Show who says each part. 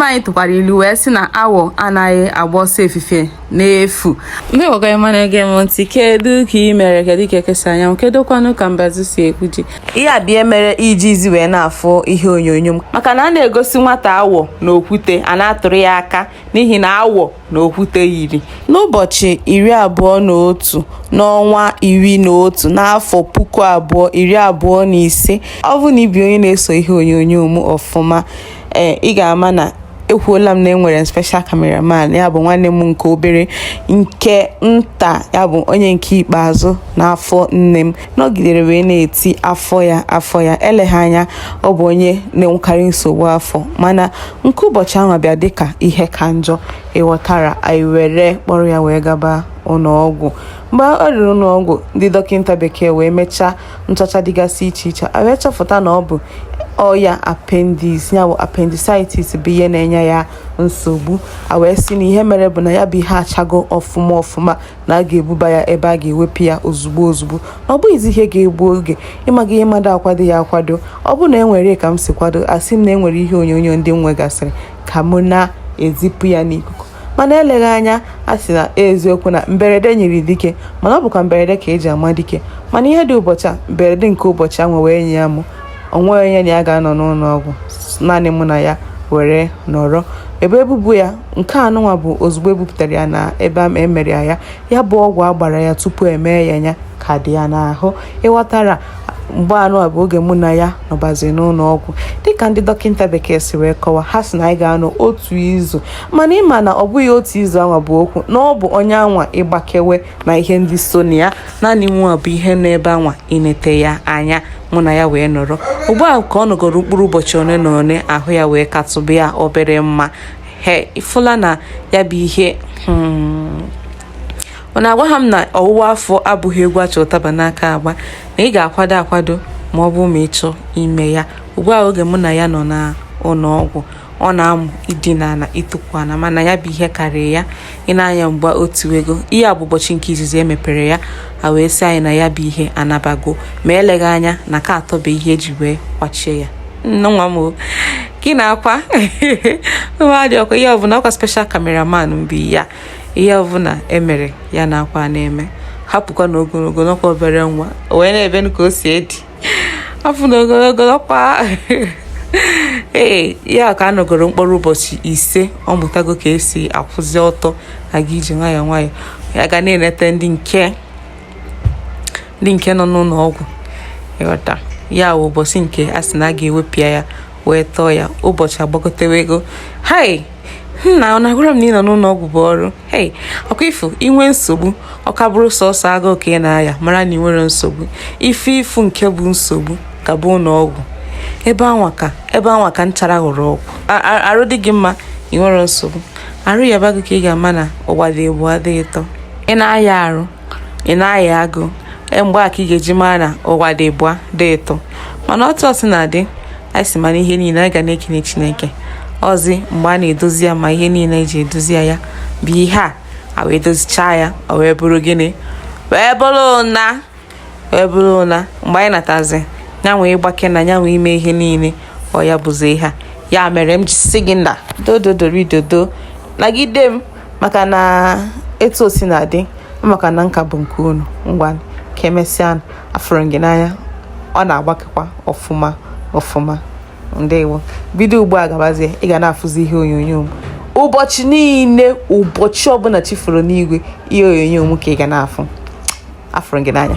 Speaker 1: nna anyị tụkwara ilu wee sị na awọ anaghị agba ọsọ efife n'efu ndị ọgọ ọma na-ege m ntị kedu ka ị mere kedu ka eke si anya anwụ kedu kwanụ ka mbazu si egwu ji ihe a bụ ihe mere ị jizi wee na-afụ ihe onyonyo m maka na a na-egosi nwata awọ na okwute a na-atụrụ ya aka n'ihi na awọ na okwute yiri n'ụbọchị iri abụọ na otu n'ọnwa iri na otu n'afọ puku abụọ iri abụọ na ise ọ bụ na ị bụ onye na-eso ihe onyonyo m ọfụma ee ị ga-ama na ekwuola m na enwere m special cameraman ya bụ nwanne m nke obere nke nta ya bụ onye nke ikpeazụ n'afọ nne m nọgidere wee na-eti afọ ya afọ ya eleghị anya ọ bụ onye na-enwekarị nsogbu afọ mana nke ụbọchị ahụ bịa dịka ihe ka njọ ị ghọtara anyị were kpọrọ ya wee gaba ụlọọgwụ mgbe o ruru ụlọọgwụ ndị dọkịta bekee wee mechaa nchọcha dịgasị iche iche a wee chọpụta na ọ bụ ọya appendix ya bụ appendicitis bụ ihe na-enye ya nsogbu a wee sị na ihe mere bụ na ya bụ ihe achago ọfụma ọfụma na a ga-ebuba ya ebe a ga-ewepụ ya ozugbo ozugbo na ọ bụghịzi ihe ga-egbu oge ị ma ihe mmadụ akwadoghị akwado ọ bụ na enwere ka m si kwado asị m na enwere ihe onyonyo ndị m nwegasịrị ka mụ na-ezipụ ya n'ikuku mana eleghị anya a sị n'eziokwu na mberede nyiri dike mana ọ bụkwa mberede ka e ji ama dike mana ihe dị ụbọchị a mberede nke ụbọchị a wee nyịa mụ o nweghị onye na ya ga-anọ n'ụlọ ọgwụ naanị mụ na ya were nọrọ ebe ebubu ya nke anụnwa bụ ozugbo e bupụtara ya na ebe a e mere ya ya bụ ọgwụ a gbara ya tupu e mee ya ya ka dị ya n'ahụ ị ghọtara nke anụnwa bụ oge mụ na ya nọbazi n'ụlọ ọgwụ dịka ndị dọkịta bekee si wee kọwa ha sị na anyị ga-anọ otu izu mana ị ma na ọ bụghị otu izu anwa bụ okwu na ọ bụ onye anwa ịgbakewe na ihe ndị so na ya naanị m nwa bụ ihe nọ ebe anwa inete ya anya mụ na ya wee nọrọ ugbu a ka ọ nọgoro mkpụrụ ụbọchị one na one ahụ ya wee katụba ya obere mma he ị fụla na ya bụ ihe hmm. unu agwaha m na ọwụwa afọ abụghị egwu a chị ụtaba n'aka agba na ị ga-akwado akwado ma ọ bụ ma ị chọ ime ya ugbu a oge mụ na ya nọ na ụlọ ọgwụ ọ na-amụ idina na itukwu ala mana ya bụ ihe karịrị ya ị na-anya mgba otu ego ihe a bụ ụbọchị nke izizi e mepere ya a wee sị anyị na ya bụ ihe anabago ma eleghị anya na ka a tọbe ihe e ji wee kwachie ya nwa m gị na-akwa nwa dị ọkwa ihe ọbụla ọkwa special cameraman mgbe ya ihe ọbụla e mere ya na akwa na-eme hapụkwa na ogologo na ọ ka obere nwa wee na-ebe ka o si dị afọ na ogologo ọkwa ee ya ka a nọgoro mkpụrụ ụbọchị ise ọ mụtago ka esi akwụzi ọtọ aga ije nwayọọ nwayọọ ya ga na-enete ndị nke ndị nke nọ n'ụlọ ọgwụ ịghọta ya wụ ụbọchị nke a sị na a ga-ewepịa ya wee tọọ ya ụbọchị agbagotewe ego hai nna ọ na-agwara m na ịnọ n'ụlọ ọgwụ bụ ọrụ hei ọkwa ifu inwe nsogbu ọ ka bụrụ sọsọ agụụ ka ị na-aya mara na ị nwerọ nsogbu ife ifu nke bụ nsogbu ka bụ ụlọ ọgwụ ebe anwa ka ebe anwa ka nchara ghọrọ ọgwụ arụ dị gị mma ị nwerọ nsogbu arụ yaba gị ka ị ga-ama na ụwa dị ịbụa dị ịtọ ị na-aya arụ ị na-aya agụụ e, mgbe a ka ị ga-eji mara na ụwa dị ịbụa dị ịtọ mana otu o si na-adị anyị si mara ihe niile anyị ga na-ekene chineke ọzi mgbe a na-edozi ya ma ihe niile eji edozi ya ya bụ ihe a a wee dozichaa ya ọ wee bụrụ gịnị wee bụrụ ụna wee bụrụ ụna mgbe anyị natazi ya wee gbakee na ya wee mee ihe niile ọ ya bụzi ihe a ya mere m ji sị gị na do do do do do nagide m maka na etu o si na-adị maka na nka bụ nke unu ngwa ka emesịanụ afụrụ m gị n'anya ọ na-agbakekwa ọfụma ọfụma ndewo bido ugbu a gabazie ị ga na-afụzi ihe onyonyo m ụbọchị niile ụbọchị ọbụla chi foro n'igwe ihe onyonyo m ka ị ga na-afụ afụrụ gị n'anya